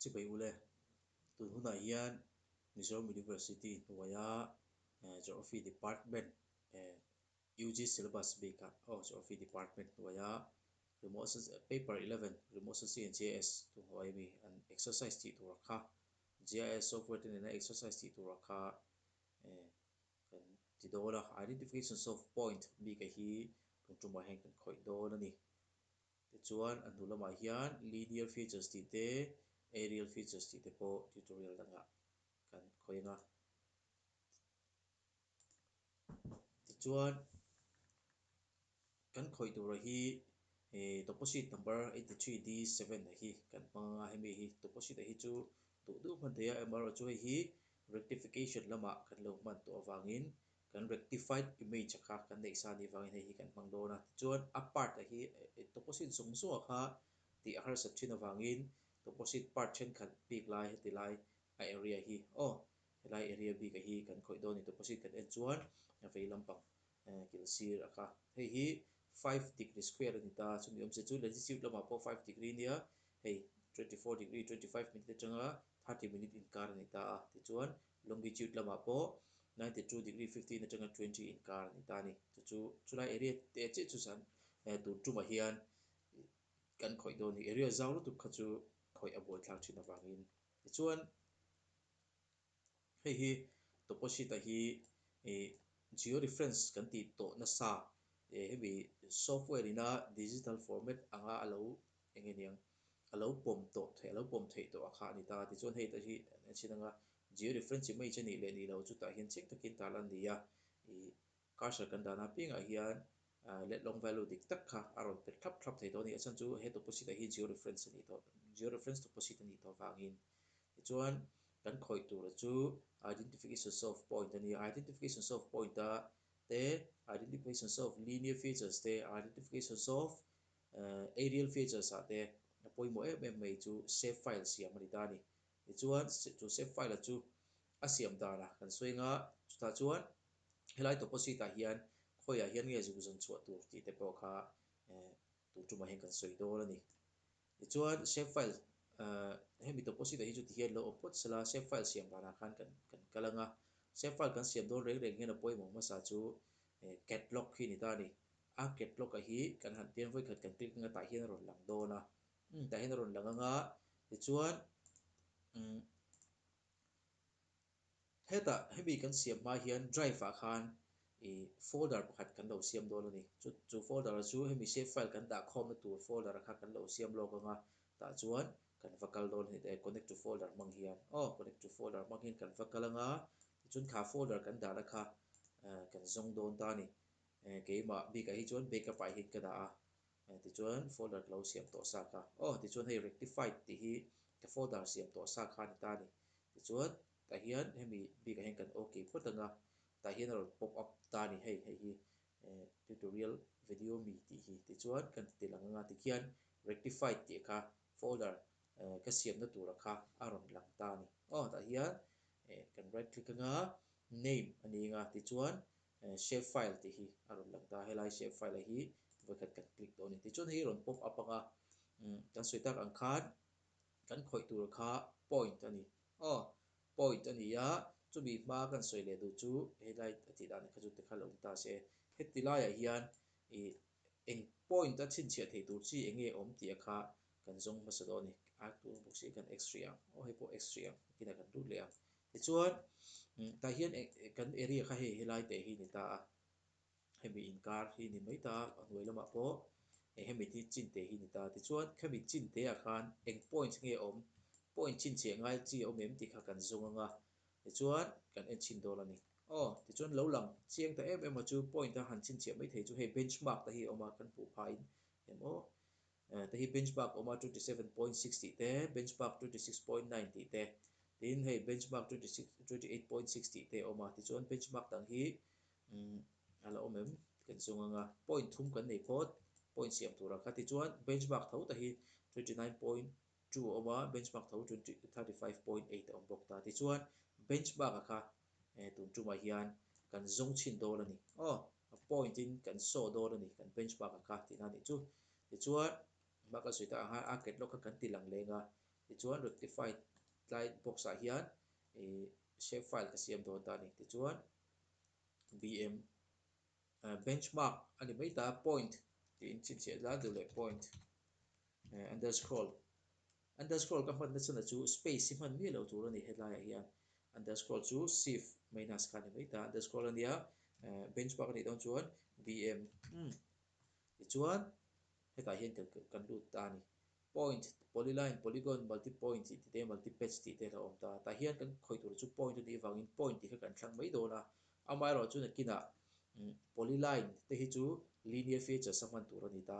Chu bai u le, tun hunah hian Mizoram University hnuaia Geography Department, UG Syllabus bikah aw Geography Department hnuaia Remote Paper eleven Remote Sensing and GIS tu hnuaia mi an exercise tih turah kha GIS software te nena exercise tih turah kha kan ti dawn a, Identifications of Point bikah hi tun tumah hian kan khawih dawn a ni. Tichuan, a hnu lamah hian Linear Features tih te, Aerial Features tih te pawh tutorial dangah kan khawih ang a. Tichuan, kan khawih tura hi he Deposit Number eighty three D seven a hi kan hmang anga hemi hi Deposit a hi chu duh duh hman theih a, amaherawhchu hei hi Rectification lamah kan lo hman tawh avangin kan rectified image-a kha kan neih sa a nih vangin hei hi kan hmang dawn a. Tichuan a part-a hi tawpawsit zawng zawngah kha tih a harsat thin avangin tawpawsit part thenkhat bik lai heti lai a area hi aw helai area bik-a hi kan khawih dawn a ni. Tawpawsit kan en chuan a vei lampang kil sir a kha. Hei hi five degree square a ni ta, chumi awmzia chu latitude lamah pawh five degree nia hei twenty four degree twenty five minute atanga thirty minute inkar a ni ta a. Tichuan Longitude lamah pawh ninety two degree fifteen atanga twenty inkar a ni ta a ni. Chu chu chulai area te chiah chu zan eh tur tumah hian kan khawih dawn a ni. Area zau lutuk kha chu khawih a buaithlak thin avangin. Tichuan, hei hi topposite-a hi ih georeference kan tih tawh nasa eh hemi software ina digital format anga a lo eng e niang. a lo pawm tawh theih a lo pawm theih tawh a kha a ni ta. Tichuan hei te hi a chhin anga georeference chi mai che nih leh nih lo chu tah hian chik takin tal an ni a. Ih cursor kan dan a pingah hian let long value dik tak kha a rawn pet thlap thlap thei tawh a ni. A chhan chu he tawpawsit ah hi georeference a nih tawh georeference tawpawsit a nih tawh vangin tichuan kan khawih tura chu identification of point a ni a. Identification of point a te identification of linear features te identification of Arial features ah te a pawimawh em em mai chu save file siam a ni ta a ni. Tichuan chu save file a chu a siam dan a kan sawi nga, chutah chuan helai tawpawsit ah hian khawiah hian nge zuk zawn chhuah tur tih te pawh kha tun tumah hian kan sawi dawn a ni. Tichuan save file hemi tawpawsit ah hi chu ti hian lo awm phawt sal a, save file siam dan ah khan kan kan kal anga save file kan siam dawn reng reng hian a pawimawh hmasa chu cat lock hi a ni ta a ni. A catlock-a hi kan han piang vawi khat kan click anga tah hian a rawn lang dawn a, umm tah hian a rawn lang anga tichuan umm hetah hemi kan siam hma hian drive-ah khan ih folder pakhat kan lo siam dawn a ni, chu chu folder-a chu hemi save file kan dah khawmna tur folder-a kha kan lo siam lawk anga tah chuan kan va kal dawn a ni e connect to folder hmang hian aw connect to folder hmang hian kan va kal anga tichuan thlahfolder kan dahna kha ahh kan zawng dawn ta a ni. E, keimah bikah hi chuan backup file hi ka dah a, e, tichuan folder ka lo siam tawh sa kha. Aw, tichuan hei rectified tih hi ka folder siam tawh sa kha a ni ta a ni. Tichuan tah hian hemi bikah hian kan ok phawt ang a, tah hian a rawn pop up ta a ni hei, hei hi, e, tutorial video a mi tih hi. Tichuan kan ti tel ang anga tikhian rectified tih kha folder, e, ka siamna tura kha a rawn lang ta a ni. Aw, tah hian, e, kan right click anga name a ni anga tichuan Shapefile tih hi a rawn lang ta a, helai shapefile-ah hi vawikhat kan click tawh a ni. Tichuan hei hi rawn pop up ang a, kan sawi tak ang khan kan khawih tur kha point a ni. Aw, point a ni a, chumi hma kan sawi leh duh chu helai a tih dan kha chu tikha la awm ta si e. Heti laiah hian ih eng point a chhinchhiah theih tur chi eng nge awm tih a kha kan zawng hmasa dawn a ni. Ai tunbawk si kan x hrih ang, aw hei pawh x hrih ang, a kinah kan rut leh ang. Tichuan, tah hian kan area kha hei helai teh hi ni ta a, hemi inkar hi ni mai ta a, a hnuai lamah pawh hemi hi chin teh hi ni ta a. Tichuan, hemi chin tehah khan eng point nge awm, point chin chheh ngai chi awm em tih kha kan zawng anga tichuan kan en chhin dawn a ni. Aw, tichuan lo lang chiang ta em em a chu point a han chin chheh mai thei chu hei benchmark te hi a awm a, kan hmuh phahin em aw Te hi benchmark awm a twenty seven point six tih te, benchmark twenty six point nine tih te, tin hei benchmark twenty six twenty eight point six tih te awm a tichuan benchmark dang hi a la awm em ka ti zung anga point thum kan nei phawt point siam tur ah kha tichuan benchmark tho te hi twenty nine point two a awm a benchmark tho twenty thirty five point eight a awm bawk ta tichuan benchmark ah kha E tun tumah hian kan zawng chhin dawn a ni. Aw, a point in kan saw dawn a ni, kan bench mark ang kha, tihna nih chu. Tichuan, engmah kan sawi ta ang kha, a get log kha kan ti lang leng a. Tichuan rectify tlai box ah hian ih shape file ka siam dawn ta a ni. Tichuan, bm, bench mark a ni mai ta, point, tiin chhinchhiah zar duh leh point. He underscroll underscroll ka hman na chhan a chu space hi hman miah loh tur a ni helaiah hian underscroll chu sif minus kha a ni mai ta underscroll a nia benchmark a nih dawn chuan bm hmm tichuan hetah hian kan kan lut ta a ni point polyline polygon multi point tih te multi patch tih te a awm ta a tah hian kan khawih tur chu point a nih avangin point tih kha kan thlang mai dawn a amah erawh chu nakinah polyline te hi chu linear features a hman tur a ni ta.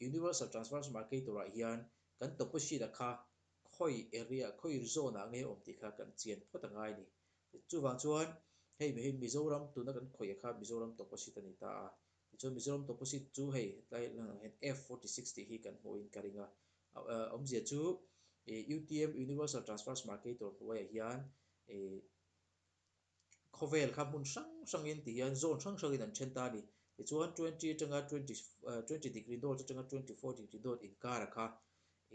Universal Transparency Market turah hian kan tawpahrit a kha khawi area, khawi zone ah nge awm tih kha kan chian phawt a ngai a ni. Chuvang chuan hei mi hi Mizoram tuna kan khawih a kha Mizoram tawpahrit a ni ta a. Tichuan Mizoram tawpahrit chu hei tlai lang ah hian F forty six tih hi kan hmuh in ka ring a. Awmzia chu UTM Universal Transparency Market tur hnuaiah hian Khawvel kha hmun hrang hrangin ti hian zone hrang hrangin an then ta a ni. Tichuan twenty atanga twenty twenty degree north atanga twenty four degree north inkara kha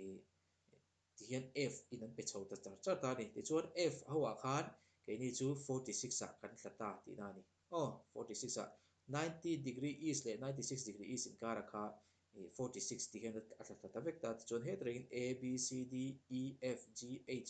ih ti hian F in an pe chho ta char char ta a ni. Tichuan F ho ah khan keini chu forty six ah kan tla ta tihna a ni. Aw forty six ah ninety degree east leh ninety six degree east inkara kha ih forty six tih hian a tla tla ta vek ta. Tichuan hetah rengin A, B, C, D, E, F, G, H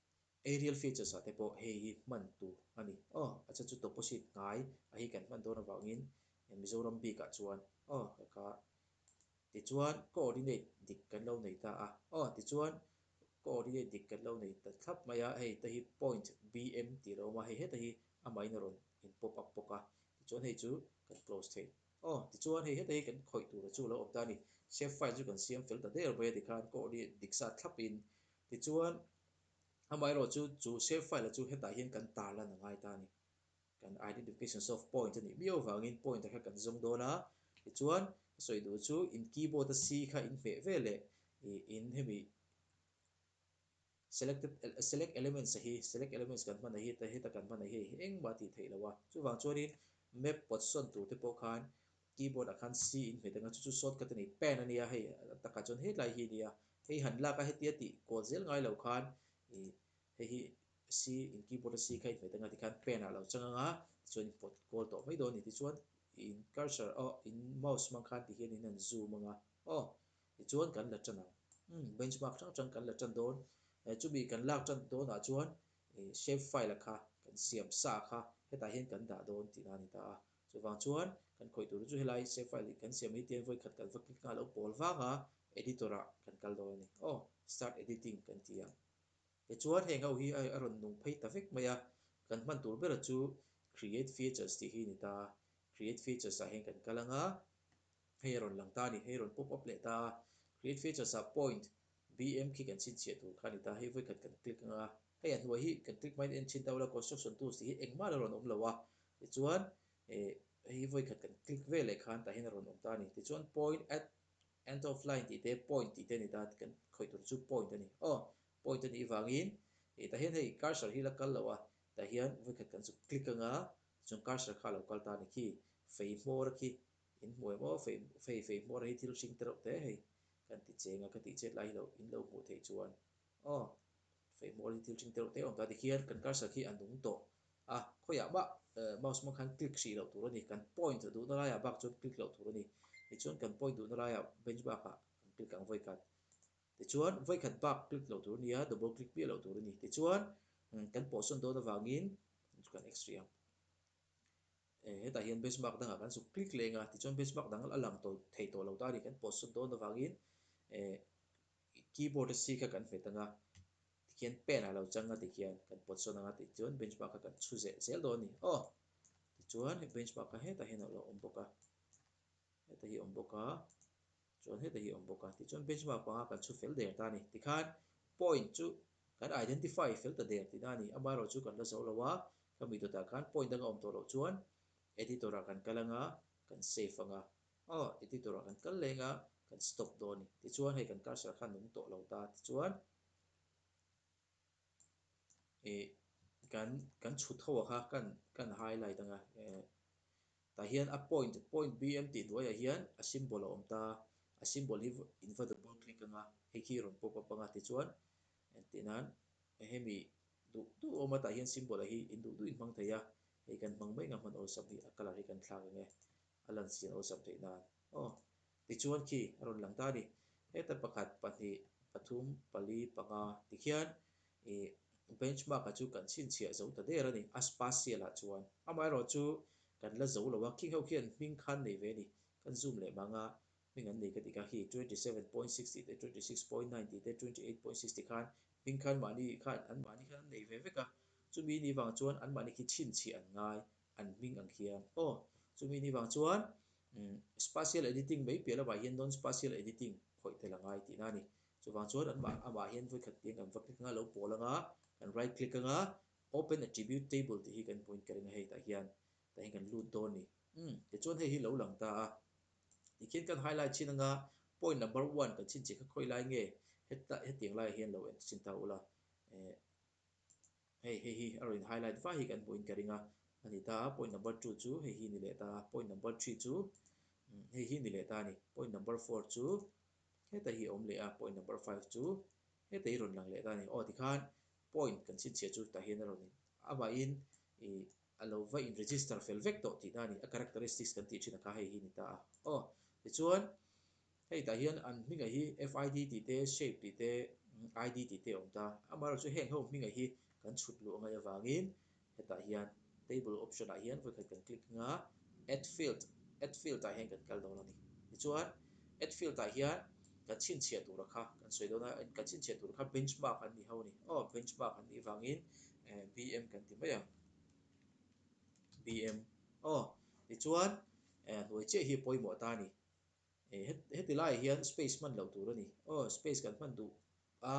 Aerial features ah te pawh hei hi hman tur a ni. Aw, a che chu deposit hnai a hi kan hman dawn avangin Mizoram bik ah chuan aw ka ka tichuan coordinate dik kan lo nei ta a. Aw tichuan coordinate dik kan lo nei ta thlap mai a, hei te hi point BM tih a lo awm a, hei heta hi a main a rawn in pop up bawk a, tichuan hei chu kan close thei. Aw tichuan hei heta hi kan khawih tur a chu a lo awm ta a ni. Shape file chu kan siam fel ta der mai a tikhan coordinate dik zat thlap in Tichuan, amaherawh chu chu save file a chu hetah hian kan tar lan a ngai ta a ni. Kan identifications of points a nih miau vangin point a kha kan zawng dawn a. Tichuan, ka sawi duh chu in keyboard a C kha in hmeh vel leh ih in hemi selected select elements a hi, select elements kan hmanah hi heta kan hmanah hi a hi engmah a tih theih lo a. Chuvang chuanin map pawt sawn tur te pawh khan. Keyboard a khan C in hmet anga chu chu shortcut a ni, Pen a nia hei a taka chuan hetlai hi a nia, hei han lak a hetia tih kawl zel ngai lo khan ih hei hi C in keyboard a C kha in hmet anga tikhan Pen ah lo chang anga tichuan in pawt kawl tawh mai dawn a ni tichuan in cursor aw in mouse hmang khan tihhian in han zoom anga aw tichuan kan la tan ang umm benchmark hrang hrang kan la tan dawn eh chumi kan lak tan dawnah chuan ih shapefile a kha kan siam sa a kha hetah hian kan dah dawn tihna a ni ta a. Chuvang chuan kan khawih tur chu helai save file ih kan siam mai tian vawikhat kan va click na alo pawl vang a editor ah kan kal dawn a ni. Aw start editing kan ti ang. Tichuan heng ho hi a rawn nung phei ta vek mai a, kan hman tur bera chu create features tih hi ni ta, create features ah heng kan kal anga hei a rawn lang ta a ni, hei a rawn pop up leh ta a, create features ah point BM khi kan chhinchhiah tur kha a ni ta, hei vawi khat kan click anga, hei a hnuai hi kan click hmain a en chin deuh la, Construction Tools tih hi engmah lo rawn awm lo a, tichuan eh hei vawi khat kan click vel leh khan tah hian a rawn awm ta a ni. Tichuan Point at End of Line tih te, Point tih te a ni ta, kan khawih tur chu Point a ni. Aw, Point a nih vangin eh tah hian hei Cursor hi la kal lo a, tah hian vawi khat kan zuk click anga, tichuan Cursor kha a lo kal ta a ni khi, feihmawra khi In hmuai maw fei fei fei hmuar hei thil hring te reuh te hei kan ti cheng a ka tih chet lai hi lo in lo hmuh theih chuan aw fei hmuar hi thil hring te reuh te awm ta ti khian kan cursor khi a nung tawh a khawi ah bah eh mouse hmang khan click hrih loh tur a ni kan point duh na lai ah bak chuan click loh tur a ni tichuan kan point duh na lai ah bench bak ah kan click ang vawi khat tichuan vawi khat bak click loh tur a nia double click miah loh tur a ni tichuan kan pawh sawn dawn avangin chu kan exit hrih ang. Hetah hian benchmark dangah kan suk click leng a, tichuan benchmark dang a lang tawh thei tawh lo ta ni kan pawt sawn dawn avangin keyboard a si kha kan hmet ang a, tikhian pen a lo chang a tikhian kan pawt sawn ang a, tichuan benchmark kha kan chhu zeh zel dawn a ni. Aw! Tichuan benchmark kha hetah hian a lo awm bawk a, hetah hi a awm bawk a. Chuan heta hi a awm bawk a, tichuan benchmark panga kan chhu fel der ta a ni. Tikhan point chu kan identify fel ta der tihna a ni. Amaherawh chu kan la zawh lo a, ka mi dawtah khan point dang a awm tawh loh chuan editor-ah kan kal anga kan save anga, aw, editor-ah kan kal leh anga kan stop dawn a ni. Tichuan hei kan cursor khan nung tawh lo ta, tichuan. ih kan kan chhut ho a kha kan kan highlight anga eh tah hian a point point bm tih hnuaiah hian a symbol a awm ta a symbol hi in va double click anga hei khi rawn pop up anga tichuan engtin nan hemi duh duh a awm a tah hian symbol ah hi in duh duh in hmang thei a hei kan hmang mai anga hman awlsam hi a color hi kan thlak ang e a lan siam awlsam theihna aww. Tichuan khi a rawn lang ta a ni. Heta pakhat, pahnih, pathum, pali, panga ti khian i benchmark a chu kan chhinchhiah zo ta der a ni. A spatial ah chuan amaherawh chu kan la zo lo a, khi ho khian hming khan nei ve a ni. Kan zoom leh mang a, hming an nei ka ti kha. Khi twenty seven point six tih te, twenty six point nine tih te, twenty eight point six tih khan hming khan mahni khan an mahni khan an nei ve vek a, chumi ni vang chuan an mahni khi chhinchhiah an ngai. an hming ang hian. Aw, chumi ni vang chuan Spatial Editing mai piah lamah hian Non-Spatial Editing khawih tel angai tih na a ni. Chuvang chuan anmah amah hian vawikhat tiang kan va click anga lo pawl anga, kan right click anga Open Attribute Table tih hi kan point ker eng a hei tah hian tah hian kan lut dawn a ni. Umm, tichuan hei hi lo lang ta a. Tikhian kan highlight chhin anga Point Number One kan chhinchih kha khawih lai nge, heta hetiang laiah hian lo enchhin ta ula. Hei, hei hi a rawn in highlight fai hi kan hmuh in ka ring a, a ni ta a, point number two chu hei hi ni leh ta a, point number three chu umm hei hi ni leh ta a ni, point number four chu heta hi a awm leh a, point number five chu heta hi rawn lang leh ta a ni. Aw tikhan point kan chhinchhiah chu tah hian a rawn in, amahin ih. a lo va in register fel vek tawh tihna a ni, a characteristics kan tih thinah kha hei hi a ni ta a. Aw, tichuan hei tah hian an hming aih hi FID tih te, shape tih te, ID tih te a awm ta. Amaherawhchu chu heng ho hming aih hi kan chhut luh a ngaih avangin hetah hian table option ah hian vawikhat kan click nghal a, add field, add field ah hian kan kal dawn a ni. Tichuan add field ah hian kan chhinchhiah tura kha kan sawi dawn a, kan chhinchhiah tura kha benchmark an ni ho a ni. Aw, benchmark an nih vangin Eh, BM kan ti mai ang. BM. Aw, tichuan, eh, a hnuai chiah hi a pawimawh ta a ni. Eh, he, heti laiah hian space hman loh tur a ni. Aw, space kan hman duh a,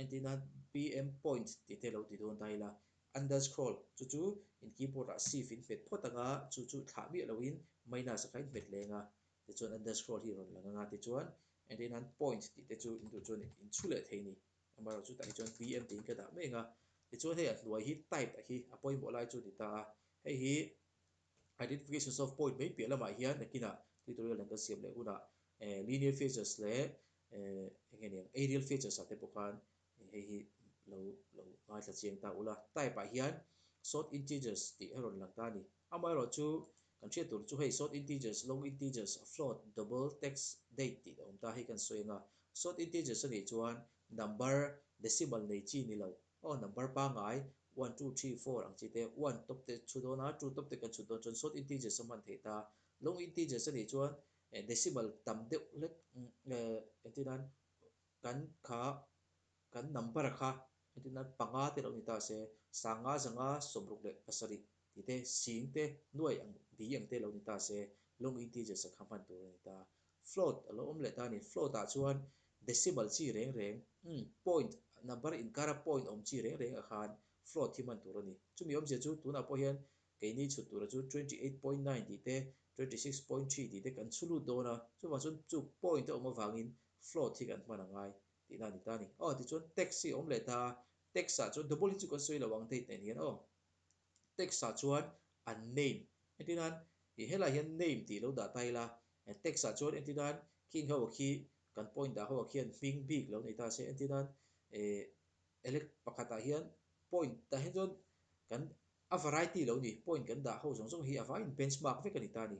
entina BM point tih te lo ti dawn ta ila, underscroll, chu chu in keyboard ah shift in hmet phawt anga chu chu thlah miah loin minus a kha in hmet leng a, tichuan underscroll hi a rawn lang anga, tichuan, entina point tih te chu in duh chuan in chhu leh thei a ni. Amaherawh chu tahni chuan PM tiin ka dah meng a, tichuan hei a hnuai hi type a hi a pawimawh lai chu ni ta a, hei hi Identifications of point mai piah lamah hian nakinah tutorial an kan siam leh hunah Linear Features leh eng nge nia Aerial Features ah te pawh khan hei hi lo lo ngaithla chiang ta ula, type ah hian Short Integers tih a rawn lang ta a ni. Amaherawh chu, kan hriat tur chu hei short integers, long integers, float, double, text, date tih a awm ta, hei kan sawi anga, short integers anih chuan number decimal nei chi ni lo, aw number pangai one two three four ang chi te one tawp te chhu dawn a, two tawp te kan chhut dawn chuan short integers a hman thei ta, long integers anih chuan decimal tam deuh hlet engtin a kan kha Kan number a kha engtin a panga te lo ni ta se, sanga zanga sawmruk leh pasarih tih te, sing te, nuaih ang bi ang te lo ni ta se, long integers a kha hman tur a ni ta. Float a lo awm leh ta ni, float ah chuan decimal chi reng reng, umm, point, number inkara point awm chi reng reng ah khan float hi hman tur a ni. Chumi awm zia chu tunah pawh hian keini chhut tur a chu twenty eight point nine tih te, twenty six point three tih te kan chhu lut dawn a, chuvang chuan chu point a awm avangin float hi kan hman a ngai. Tihna a ni ta a ni. Aw, tichuan text hi a awm leh ta a, text ah chuan double hi chu kan sawi lo ang date nen hian aw. Text ah chuan unnamed entin a, ih helaiah hian name tih lo dah ta ila, text ah chuan entin a, khing ho khi kan point dah ho ah khian hming bik lo nei ta se entin a, eh elect pakhat ah hian point tah hian chuan kan a variety lo a ni, point kan dah ho zawng zawng hi a vaiin benchmark vek a ni ta a ni.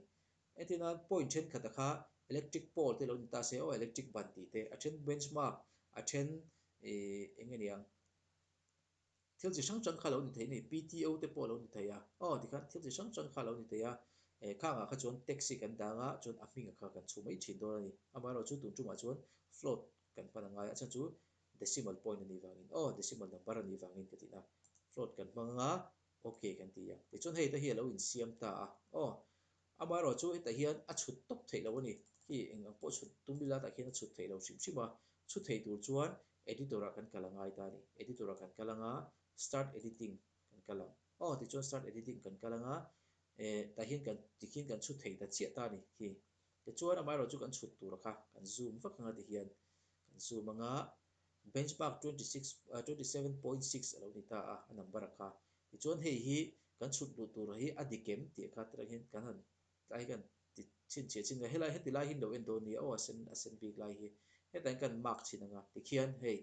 Heti chuan point thenkhat a kha electric pole te lo ni ta se aw electric ban tih te a then bench mark a then ih eng aniang thil chi hrang hrang kha lo ni thei ani PTO te pawh a lo ni thei a aw tikhan thil chi hrang hrang kha lo ni thei a eh khang ah kha chuan taxi kan dang a chuan a hming ah kha kan chhu mai thin dawn ani amah erawh chu tun tum ah chuan float kan hman angai a a chhan chu decimal point a nih vang in aw decimal number a nih vang in ka tih na float kan hmang anga Ok kan ti a. Tichuan hei te hi a lo insiam ta a. Aw, amaherawh chu hetah hian a chhut tawp theih lo a ni. Hei eng ang pawh chhut tum ila tah khian a chhut theih lo hrim hrim a. Chhut theih tur chuan Editor ah kan kal a ngai ta a ni. Editor ah kan kal ang a, Start Editing kan kal ang. Aw, tichuan Start Editing kan kal ang a, eh, tah hian kan, tikhian kan chhut theih ta chiah ta a ni hi. Tichuan amaherawh chu kan chhut tur kha kan zoom vak ang a tihian. Kan zoom ang a. Benchmark twenty six, twenty seven point six a lo ni ta a, a number a kha. Tichuan hei hi kan chhut duh tur hi a ni kem tih a kha tirang hian kan han tlai kan ti chhinchhiah chin ka. Helai heti lai hi an lo en dawn nia aw a sen a sen bik lai hi hetiang kan mark chhin ang a tikhian hei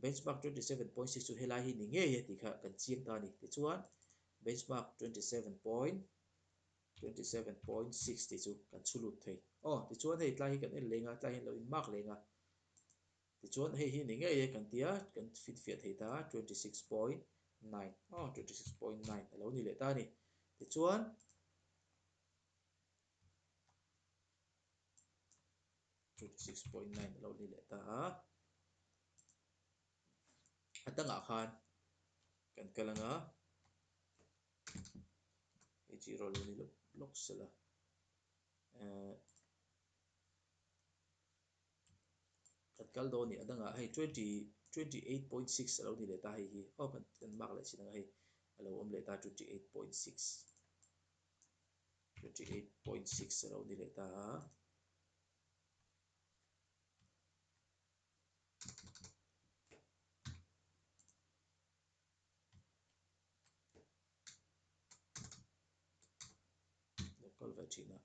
Benchmark twenty seven point six chu helai hi ni ngei a tih kha kan chiang ta a ni. Tichuan Benchmark twenty seven point, twenty seven point six tih chu kan chhu lut thei. Aw tichuan hei tlai hi kan en leng a, tlai hi an lo in mark leng a. Tichuan, hei hi ni ngei e kan tia kan fit fiah thei ta a, twenty six point nine aw twenty six point nine a lo ni leh ta a ni. Tichuan, twenty six point nine a lo ni leh ta a, a tangah khan kan kal ang a, hei chu erawh a lo ni lawk lawk sela, ehh. Kan kal dawn a ni, adangah hei twenty twenty eight point six alo ni leh ta hei hi aw kan kan mark leh chin anga hei alo awm leh ta twenty eight point six twenty eight point six alo ni leh ta a lo kal ve thin a.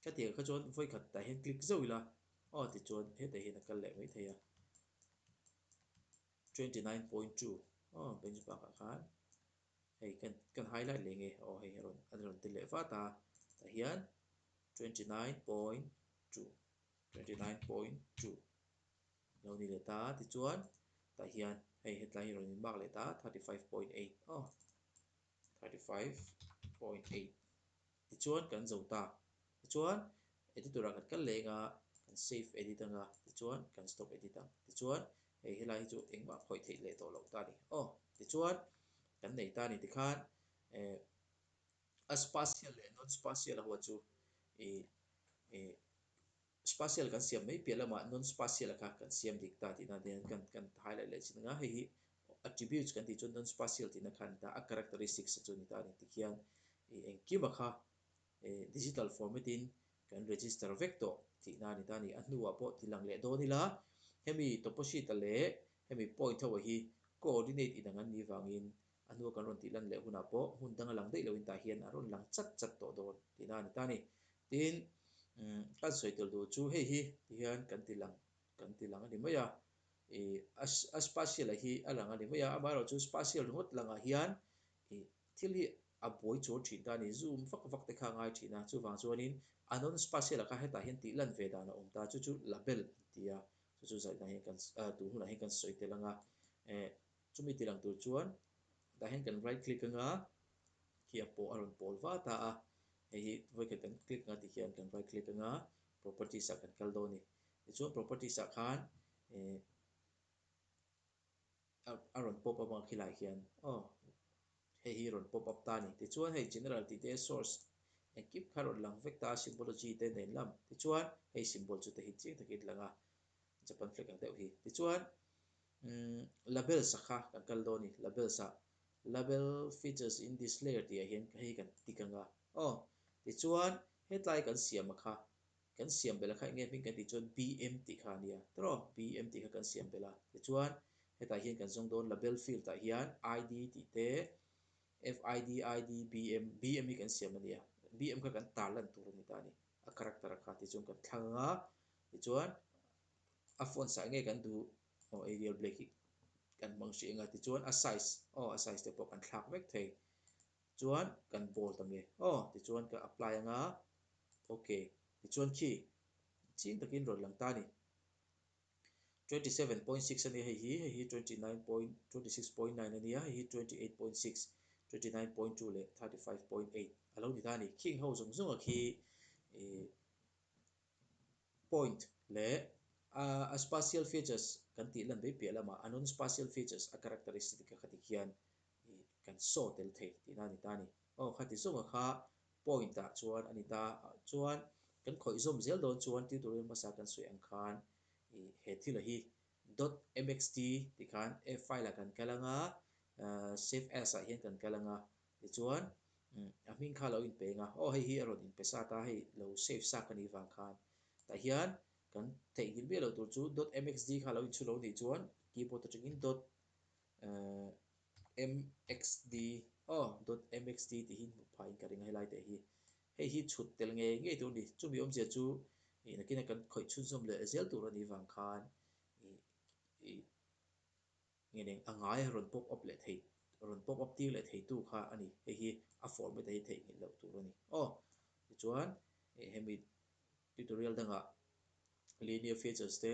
Ka tir kha chuan vawikhat tah hian click zauh ila, aw tichuan hetah hian a kal leh mai thei a, twenty nine point two aw benchmark ah khan hei kan kan highlight leh nge aw hei an an rawn tel leh vat a, tah hian twenty nine point two, twenty nine point two lo ni leh ta tichuan tah hian hei hetlai hi rawn inmark leh ta thirty five point eight aw. thirty five point eight tichuan kan zo ta tichuan editor ah kan kal leng a kan save edit anga tichuan kan stop edit ang tichuan hei helai hi chu engmah a khawih theih leh tawh loh ta ni aw tichuan kan nei ta ni tikhan eh a spacial leh non spacial ho chu ih ih Spatial kan siam mai piah lamah non-spatial a kha kan siam dik ta tihna te kan kan hai laih leh chin anga hei hi attributes kan tih chuan non-spatial tihna kha a ni ta a characteristics a chu a ni ta a ni ti khian i engkim a kha e digital format in kan register vek tawh tihna a ni ta a ni a hnua pawh ti lang leh dawn ila hemi topposite leh hemi point ho hi coordinate inang an nih vangin A nu a kan rawn tih lan leh hunah pawh hmun danga lang daih loin tah hian a rawn lang chat chat tawh dawn tih na a ni ta ni. Tin, kan sawi tel tur chu hei hi ti hian kan ti lang kan ti lang a ni mai a. Ih, a spatial a hi a lang a ni mai a, amah erawh chu spatial ringawt langah hian ih thil hi a buai chawl thin ta a ni, zoom vak vak te kha a ngai thin a, chuvang chuanin a non spatial a kha hetah hian tih lan ve dan a awm ta, chu chu label an ti a, chu chu zaina hian kan, tun hunah hian kan sawi tel ang a. Chumi ti lang tur chuan tah hian kan right click anga khi a pawh a rawn pawl va ta a, hei hi vawikhat kan click anga tikhian kan right click anga properties ah kan kal dawn a ni. Tichuan properties ah khan ih a rawn pop up ang khi lai hian aw hei hi rawn pop up ta a ni. Tichuan hei general tih te source engkim kha rawn lang vek ta a symbology te nen lam tichuan hei symbol chu te hi chiang takin lang a Japan flag ang deuh hi. Tichuan. Umm, labels a kha kan kal dawn a ni. Labels ah, Label features in this layer tihah hian kha hi kan tik anga. Aw, tichuan hetlai kan siam a kha, kan siam belh a kha enge hming kan tih chuan BM tih kha a nia. Tawrh aw, BM tih kha kan siam belh a. Tichuan hetah hian kan zawng dawn label field ah hian ID tih te, FID, ID, BM, BM hi kan siam a nia. BM kha kan tar lan tur a ni ta a ni. A character a kha tichuan kan thlang anga, tichuan a phone sai ngei kan duh aw Arial Black hi kan hmang hrih anga tichuan a size aw a size te pawh kan thlak vek thei chuan kan ball ta nge aw tichuan ka apply anga ok tichuan khi ching takin rawn lang ta a ni twenty seven point six ania hei hi hei hi twenty nine point twenty six point nine ania hei hi twenty eight point six twenty nine point two leh thirty five point eight a lo ni ta a ni khing ho zawng zawng a khi ihh. point, leh a a spatial features kan tih lan vei piah lama a non-spatial features a characteristic a kha tik hian i kan saw tel thei tih nan a ni ta a ni. Aw kha ti zawngah kha point ah chuan a ni ta a, chuan kan khawihzawm zel dawn chuan tutorial hmasa kan sawi ang khan i he thil a hi dot mxt tih khan a file ah kan kal ang a, save as ah hian kan kal ang a, Tichuan, a hming kha a lo inpeng a, aw hei hi a rawn inpe sat a, hei lo save sak a nih vang khan tah hian kan theihngilh miah loh tur chu dot mxd kha a lo inchhu lo nih chuan keyboard atangin dot emm mxd aw dot mxd tih hi hmuh phaiin ka ring a helai teh hi hei hi chhut tel ngei ngei tur a ni. Chumi awmzia chu ih nakina kan khawih chhunzawm leh zel tur a nih vang khan ih ih. Nge nen a ngai a rawn pop up leh thei rawn pop up tir leh thei tu kha a ni hei hi a format a hi theih nghilh loh tur a ni. Aw tichuan eh hemi tutorial dangah linear features te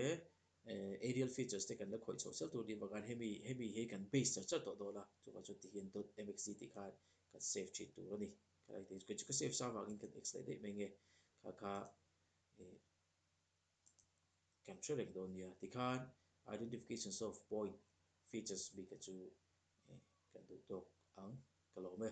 eh aerial features te kan la khawih chho sel tur ni bawk a hemi hemi hi kan base char char tawh dawn a chungah chuan tihian dot msg tih khan kan save thin tur a ni. Khalaiti chu ka save sa vangin kan exit leh daih mai nge kha kha eh. kan hre lek dawn nia ti khan identifications of point features bik a chu kan duh tawk ang ka lawm e.